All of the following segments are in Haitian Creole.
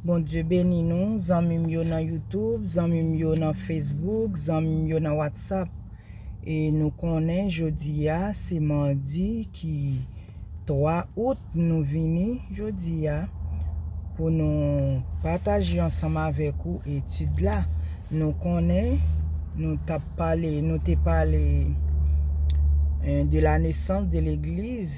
Bondye beni nou zanmi m yo nan youtube, zanmi m yo nan facebook, zanmi m yo nan whatsapp e nou konnen jodi a se mardi ki 3 out nou vini jodi a pou nou pataje ansanm avèk ou etid la nou konnen nou t ap pale nou te pale de la nesans de legliz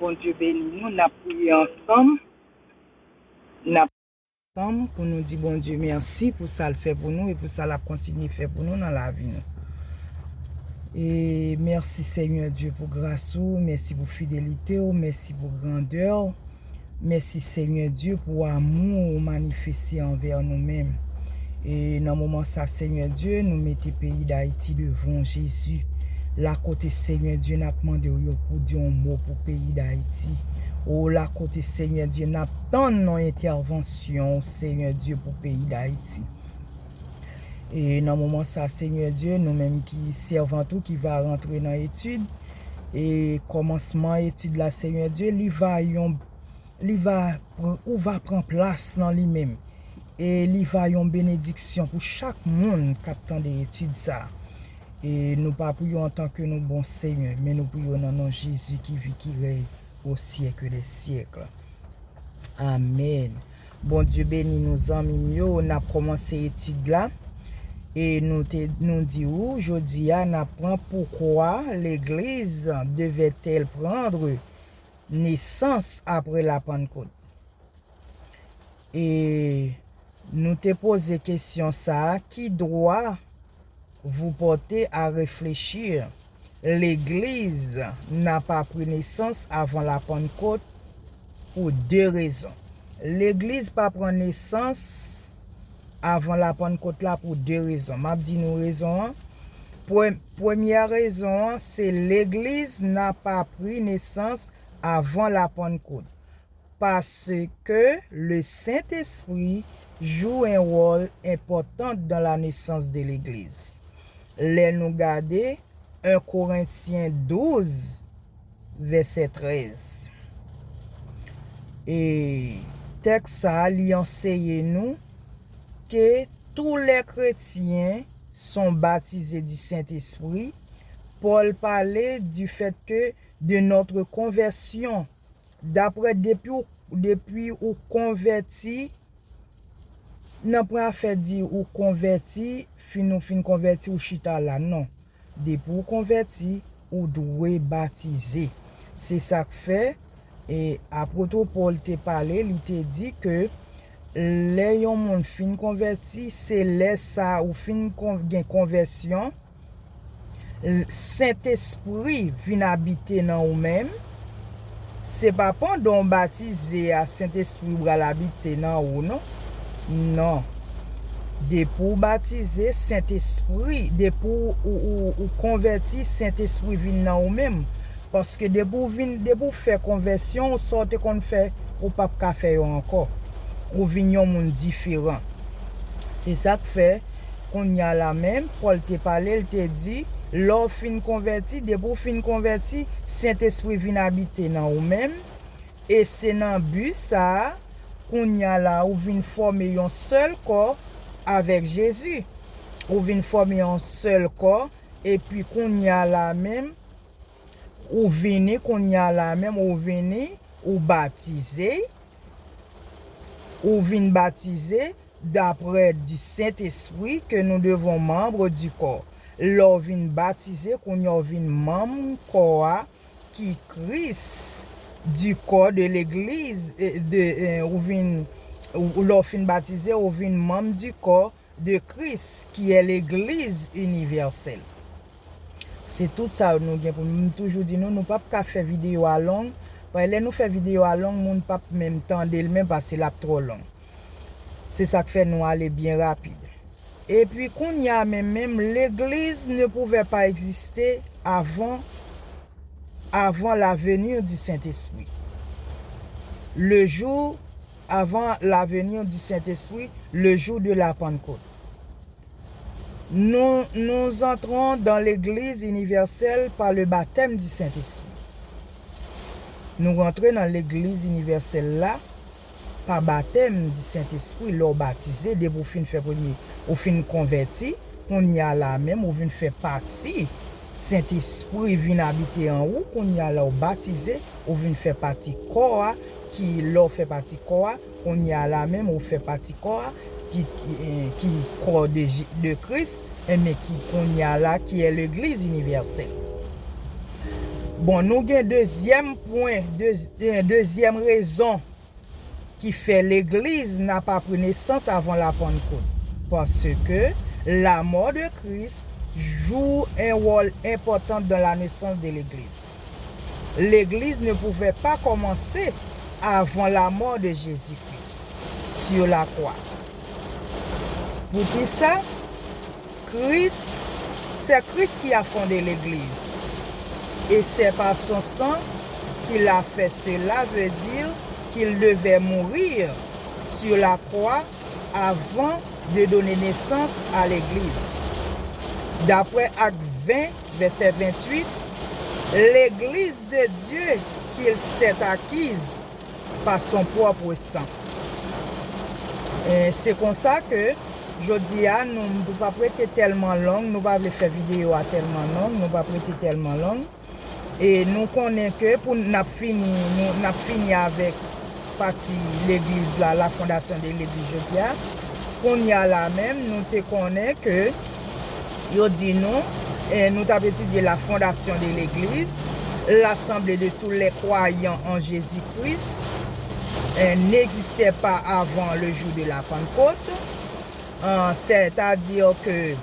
Bondye beni nou nap priye ansanm nap ansanm pou nou di Bondye mèsi pou sal fè pou nou e pou sa lap kontinye fè pou nou nan lavi nou e mèsi senyè Dye pou gras ou mèsi pou fidelitew mèsi pou grandèw. Mèsi Senyè Dye pou amou ou manifeste anvè nou menm e nan moman sa Senyè Dye nou mete peyi dayiti devan w Jezi lakote Senyè Dye nap mande w yo pou di yon mo pou peyi dayiti o lakote Senyè Dye nap tann yon entèvansyon w Senyè Dye pou peyi dayiti. E nan moman sa a, Senyè Dye, nou menm ki sèvant ou ki va rantre nan etid, e kòmansman etid la, Senyè Dye, li va yon, li va, ou va pran plas nan li menm. E li va yon benediksyon pou chak moun k ap tande etid sa a. E nou pa pou yo antanke nou bon Senyè, men nou pou yo nan non Jezi ki vi ki rèy o syèkldèsyèkl. Amèn. Bondye beni nou zanmi m yo nap komanse etid la e nou te nou di ou jodia nap pran poukwa legliz devetel prendre nesans apre la pannkot e nou te poze kesyon sa ki dwa Vous portez à réfléchir, Legliz n'a pa pri nesans avan la Pannkot pou de rezon. Legliz pa pran nesans avan la Pannkot la pou de rezon. M ap di nou rezon an. Premyè rezon an se Legliz n'a pa pri nesans avan la Pannkot. Paske le Sent Espri jou en wòl enpòtant dan la nesans de legliz. Lè nou gade 1 Korentyen 12 vèsè 13. E tèks sa li anseye nou ke tou lè kretyen son batize du Sent Espri, Pòl pale du fèt ke de notre conversion Daprè depiw depi ou konvèti nan pran afè di ou konvèti fin ou fin konvèti ou chita la non depi ou konvèti ou dwe batize se sak fè e apotr Paul te pale li te di ke lè yon moun fin konvèti se lè sa ou fin gen konvèsyon L Sentespri vin abite nan ou menm, se pa pandan w batize a Sentespri pral abite nan ou non. Non. Depi w batize, Sentespri, depi ou konvèti, Sentespri vin nan ou menm. Paske depi w vin, depi w fè konvèsyon w, sa w te konn fè, ou pap ka fè yo ankò. Ou vin yon moun diferan. Se sa k fè. Kounye a la menm, Pòl te pale, l te di, Lè w fin konvèti, depi w fin konvèti, Sentespri vin abite nan ou menm, e se nan bi sa a, kounye a la, ou vin fòme yon sèl kò avèk Jezi. Ou vin fòme yon sèl kò, epi kounye a la menm, ou vini, kounye a la menm, ou vini, ou batize, ou vin batize, Dapre di Sentespri ke nou devon manbre di kò. Lè w vin batize, kounye a w vin manm kò a ki Kris, di kò de legliz de ou vin lè w fin batize ou vin manm di kò de Kris ki è legliz inivèsèl. Se tout sa nou gen pou nou m toujou di nou, nou pap ka fè videyo a long, pae lè nou fè videyo a long moun pap menm tande l menm pase lap twò long. Se sak fè nou ale byen rapid. Epi kounya men menm legliz ne pouvè pa egziste avan avan la venir di sentespri. Le jou avan la venir di sentespri le jou de la pannkot. Nou nous antrons dan legliz inivèsèl pa le batèm di sentespri. Nou rantre nan legliz inivèsèl la pa batèm di Sentespri lè w batize, depi w fin fè premye, ou fin konvèti, kounye a la a menm ou vin fè pati, Sentespri vin abite an ou, kounye a la w batize, ou vin fè pati kò a, ki lè w fè pati kò a, kounye a la a menm ou fè pati kò a, ki kò de Kris. Enben ki kounye a la ki e legliz inivèsèl. Bon nou gen dezyèm pwen, dezyèm rezon ki fè legliz na pa pre nesans avan la pannkot. Paske la mò de Kris jou en wòl enpòtan dan la nesans de legliz. Legliz ne pouvè pa kòmanse avan lamò de Jezi Kris su lakwa. Poukisa? Kris, sè Kris ki a fonde Legliz, e sè pa son san ki l a fè sela ve di ki l devè mourir su lakwa avan de done nesans a Legliz. Daprè Akt 20. Vèsè 28, Legliz de Dye ki l sèt akiz pa son pwòpre san. E se konsa ke jodi a nou m pou pa p rete tèlman long, nou pa vle fè videyo a tèlman long, nou pa p rete tèlman long. E nou konnen ke pou n ap fini, nou n ap fini avèk. Pati legliz la, la fondation de l'église jodi a. Kounye a la menm nou te konnen ke yo di nou, nou t ap etidye la fondation de l'église, l'assemblée de tous les croyants en Jésus Christ n'existait pas avant le jour de la Pentecôte, c'est à dire que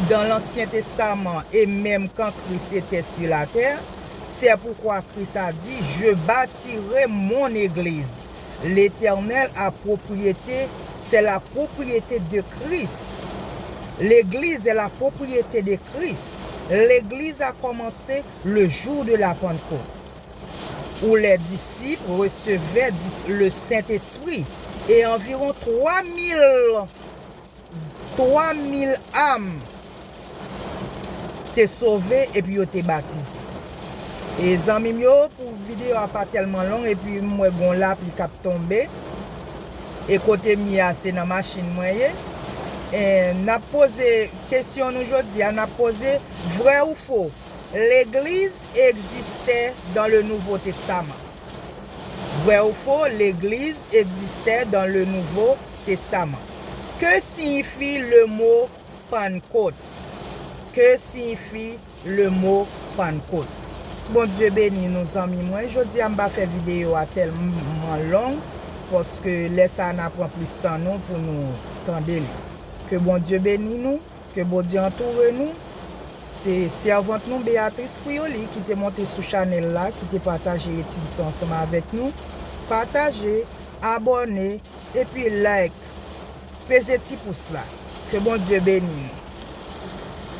dans l'ancien testament et même quand Christ était sur la terre, Sè poukwa Kris a di, Je batire Mon Egliz. Letènèl a pwopriyete, sè la pwopriyete de Kris. Legliz è la pwopriyete de Kris. Legliz a kòmanse le jou de la Pantkot. Ou lè disip resevè dis le Sentespri. E anviron twa mil. Twa mil am te sove epi yo te batize. E zanmi m yo, pou videyo a pa tèlman long epi m wè gon lapli k ap tonbe, e kote m ye a se nan machin mwen ye, n ap poze kesyon nou jodi a, n ap poze, vrè ou fo, legliz egzistè dan le nouvo testaman? Vrè ou fo, legliz egzistè dan le nouvo. Testaman. Ke siyifi lemo Pannkot? Ke siyifi lemo Pannkot? Bondye beni nou zanmi mwen jodi a m pa fè video a tèlman long paske lè sa na pran plis tan nou pou nou tande li ke Bondye beni nou ke Bondye antoure nou se sèvant nou Beatrice Prioly ki te monte sou chanèl la ki te pataje etid sa ansanm avèk nou pataje abòne Epi like. Peze ti pous la. Ke Bondye beni nou.